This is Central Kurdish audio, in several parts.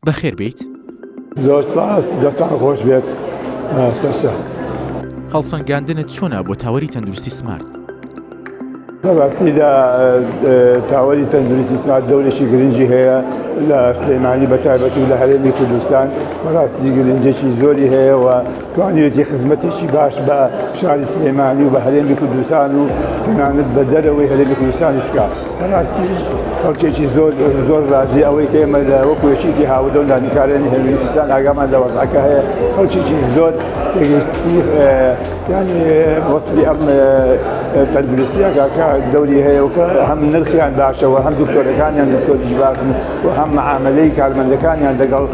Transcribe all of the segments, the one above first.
بەخێر بێیت. زۆر سپاس دەستان خۆش بێت سەرشە. هەڵسەنگاندنت چۆنا بۆ تاوەری تەندروستی سمارت؟ بەڕاستیدا تاوەری تەندروستی سمارت دەورێکی گرنگی هەیە لە سلێمانی بەتایبەتی لە هەرێمی کوردستان بەڕاستی گرنگێکی زۆری هەیەەوە توانیوێتی خزمەتێکی باش بە شاری سلێمانی و بە هەرێمی کوردستان و تەنانەت بە دەرەوەی هەرێمی کوردستانیش بکات بەڕاستی خەڵکێکی زۆر زۆر ڕازی ئەوەی کە ئێمە لە وەکو یەکێتی هاوردە و دانیکارانی هەرێمی کوردستان ئاگامان لە وەزعەکە هەیە خەڵکێکی زۆر یانی وەسفی ئەم تەندروستیەکە کە دەوری هەیە و کە هەم نرخیان باشەوە هەم دکتۆرەکانیان دکتۆریش باشن و هەم معامەلەی کارمەندەکانیان لەگەڵ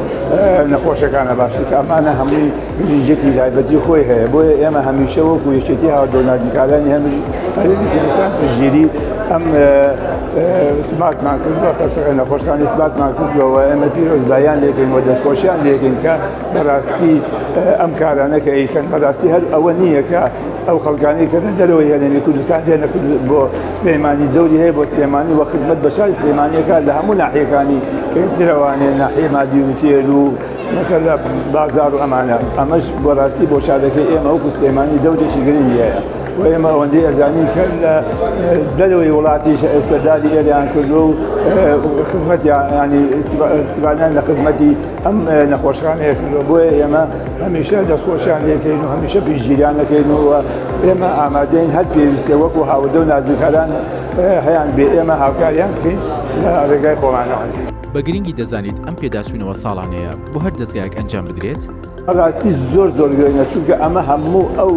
نەخۆشەکانە باشتر ئەمانە هەمووی گرنگێتی تایبەتی خۆی هەیە بۆیە ئێمە هەمیشە وەکو یەکێتی هاودۆنادیکارانی هەمیش هەرێمیکردستان پشتگیری ئەم سمارتمان کردوە کەسەکە نەخۆشەکانی سمارتمان کردوەوە ئێمە پیرۆزبایان لێکەین و دەستخۆشیان لێکەین کە بەڕاستی ئەم کارانە کە ئەیکەن بەڕاستی هەر ئەوە نییە کە ئەو خەڵکانی کە لە دەرەوەی هەرێمی کوردستان دێنە بۆ سلێمانی دەوری هەیە بۆ سلێمانی وە خزمەت بە شاری سلێمانیەکە لە هەموو ناحیەکانی ترەوانێ ناحیە مادی و تێر و مەسەر لە بازار و ئەمانە ئەمەش بۆ ڕاستی بۆ شارەکەی ئێمە وەکو سلێمانی دەورێکی گرنگی هەیە و ئێمە ئەوەندەی ئەزانین کە لە دەرەوەی وڵاتیش ئێستاداری ئێریان کردو و خزمەتیان ینی سیبانیان لە خزمەتی ئەم نەخۆشخانەیە کردوە بۆیە ئێمە هەمیشە دەستخۆشیان لێکەین و هەمیشە پیشگیریان نەکەینەوە ئێمە ئامادەین هەر پێویستە وەکو هاودە و نازوکاران هەیان بێ ئێمە هاوکاریان بکەین لە ڕێگای خۆمانەوە. بە گرنگی دەزانیت ئەم پێداچوونەوە ساڵانەیە بۆ هەر دەزگایەک ئەنجام بدرێت؟ بەڕاستی زۆر زۆر گرنگە چونکە ئەمە هەموو ئەو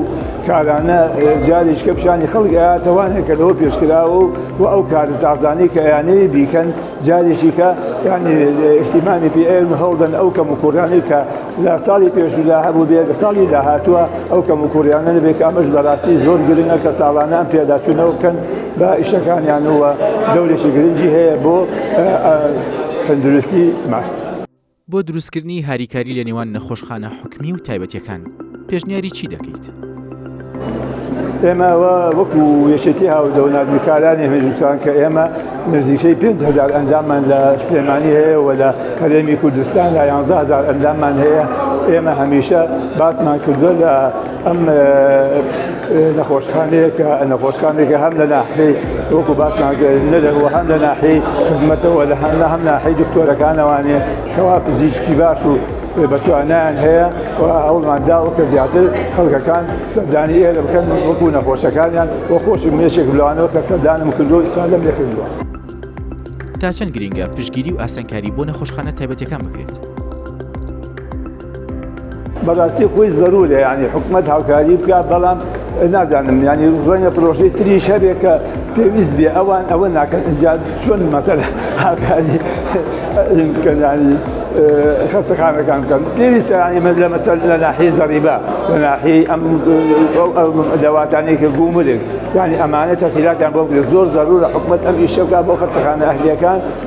کارانە جاریشکە پیشانی خەڵک ئەیاتەوانێکەوە پێشکراوە و ئەو کارزازانەی کە یانەیە بیکەن جاریشی کە یعنی احتیمامی پێ ئێن هەڵدەن ئەو کەم و کوڕیانەی کە لە ساڵی پێشودا هەبوو بێ لە ساڵی داهاتووە ئەو کەم و کوڕیانە نەبێت کە ئەمەش بەڕاستی زۆر گرنگە کە ساڵانان پێداچوونەوە بکەن بە ئیشەکانیانەوە دەورێکی گرنگی هەیە بۆ تەندروستی سمارت. بۆ دروستکردنی هاریکاری لە نێوان نەخۆشخانە حکومی و تایبەتیەکان پێشنیاری چی دەکەیت؟ ئێمە وەکو یەکێتی هاودە و ناردوکارانی هێژوسان کە ئێمە نزیکەی 5هزار ئەندامان لە سلێمانی هەیە و لە هەرێمی کوردستان لە 11هزار ئەندامان هەیە ئێمە هەمیشە باسمان کردووە لە ئەم نەخۆشخانەیەکە نەخۆشخانێکە هەم لە ناحەی وەکو باسمان نەدەوە هەم لە ناحەی خزمەتەوە لە هەم لە هەم ناحەی دکتۆرەکانەوانێ کەوا پزیشکی باش و بەتوانیان هەیە و ئەومان داوە کە زیاتر خەڵکەکان سەردانی ئێرە بکەن وەکو نەخۆشەکانیان وە خۆشی مێشێک لەوانەوە کە سەردانم کردو ئیسفادەم لێ کردووە. تا چەند گرنگە پشتگیری و ئاسانکاری بۆ نەخۆشخانە تایبەتیەکان بکرێت؟ بەڕاستی خۆی زەرورە یعنی حکومەت هاوکاری بکە بەڵام نازانم ینی ڕەنگە پرۆژەی تری شەرێک کە پێویست بێ ئەوان ئەوە ناکەن ئەجا چۆن مەسەر هاکاری بکەنانی خەستەخانەکان بکەن پێویستە ئەمە لە مەسەر لە ناحی زەریبە لە ناحی ئەم دەواتانێکە گومرێک ینی ئەمانە تەسیلاتیان بۆ زۆر زەرورە حکومت ئەم ئیشەکە بۆ خەستەخانە ئەهلیەکان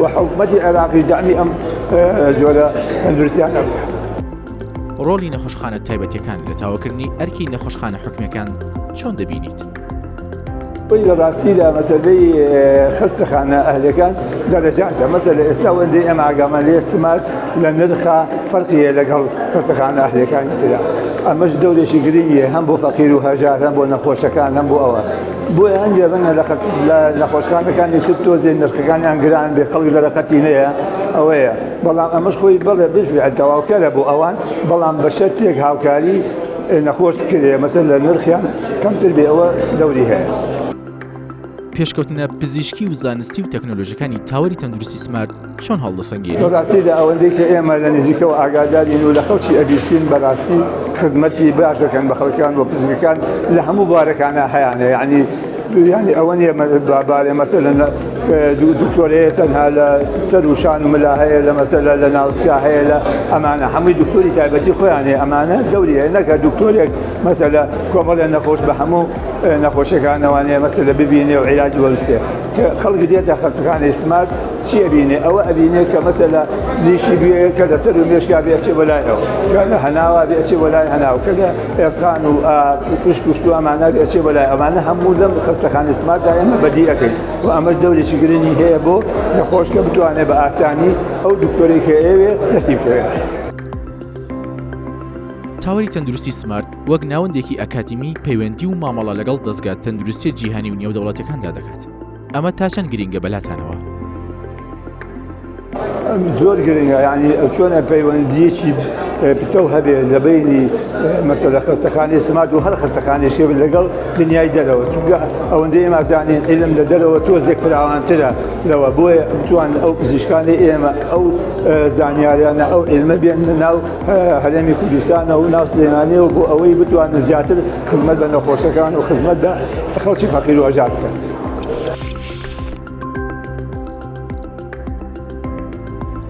و حکومەتی عێراقیش دەعمی ئەم جۆرە تەندروستیانە بکات. ڕۆڵی نەخۆشخانە تایبەتیەکان لە تاوکردنی ئەرکی نەخۆشخانە حکومیەکان چۆن دەبینیت؟ وی لە ڕاستیدا مەسەلەی خستەخانە ئەهلەکان دەرەجاتە مەسە لە ئێستا وەندی ئەم ئاگامان لێ سمات لە نرخە فەرقیە لەگەڵ خستەخانە ئەهلەکانی تررا ئەمەش دەورێکی گرنگە هەم بۆ فەقیر و هەژار هەم بۆ نەخۆشەکان هەم بۆ ئەوە بۆیە هەندێک ڕەنگە لە نەخۆشخانەکانی تر تۆزێ نرخەکانیان گران بێ خەڵک لە رەقەتی نەیە ئەوەیە بەڵام ئەمەش خۆی بڵێ بژێت تەواوکەرە بۆ ئەوان بەڵام بە شەتێک هاوکاری نەخۆش کرێ مەسەر لە نرخیان کەمتر بێ ئەوە دەوری هەیە. پێشکەوتنە پزیشکی و زانستی و تەکنۆلۆژیەکانی تاوەری تەندروستی سمارت چۆن هەڵدەسەنگێنیت؟ لە ڕاستیدا ئەوەندەی کە ئێمە لە نزیکەوە ئاگادارین و لە خەڵکی ئەبیستین بەڕاستی خزمەتی باش دەکەن بە خەڵکیان و پزیشکەکان لە هەموو بوارەکانا هەیانە یانی یانی ئەوە نیە بارێ مەسەلەن دکتۆرەیە تەنها لە سەر و شان و ملا هەیە لە مەسەلە لە ناوسکا هەیە لە ئەمانە هەمووی دکتۆری تایبەتی خۆیان هەیە ئەمانە دەوری هەیە نەکە دکتۆرێک مەسەلە کۆمەڵێ نەخۆش بە هەموو نەخۆشیەکانەوانەیە مەسەلە ببینێ و عیلاج وەرسێ خەڵک دێتە خەستەخانەی سمارت چیە بینێ ئەوە ئەبینێ کە مەسەلا زیشی بێ کە لەسەر و مێشکا بێ چێ بەلایەوە کەە هەناوا بێ چێ بەلای هەناو کەگە ئێسقان و پشت کوشتو ئەمانە بێ چێ بەلای ئەمانە هەموو لەم خەستەخانی سمارتدا ئێمە بەدیەکەین و ئەمەش دەورێکی گرنگی هەیە بۆ نەخۆشکە بتوانێت بە ئاسانی ئەو دکتۆرێک هەیەوێ دەسی بکەوێت. تاوەری تەندروستی سمارت وەک ناوەندێکی ئەکادیمی پەیوەندی و مامەڵە لەگەڵ دەستگا تەندروستی جیهانی و نێودەوڵەتەکاندا دەکات ئەمە تا چەند گرنگە بەلاتانەوە زۆر گرنگە ینی چۆنە پەیوەندیەکی پتەو هەبێت لە بینی مەسە لە خستەخانی سمات و هەر خستەخانی شێ لەگەڵ دنیای دەرەوە چونگە ئەوەندە ئێمازانین علم لە دەرەوە تۆزێک فراوانترە لەوە بۆیە بتوان ئەو پزیشکانی ئێمە ئەو زانیاریانە ئەو علمە بێن ناو هەرێمی کوردستانە و ناو سلێمانیە و بۆ ئەوەی بتوانن زیاتر خزمەت بە نەخۆشەکان و خزمەت بە خەڵکی فەقیر و ئەژاد بکەن.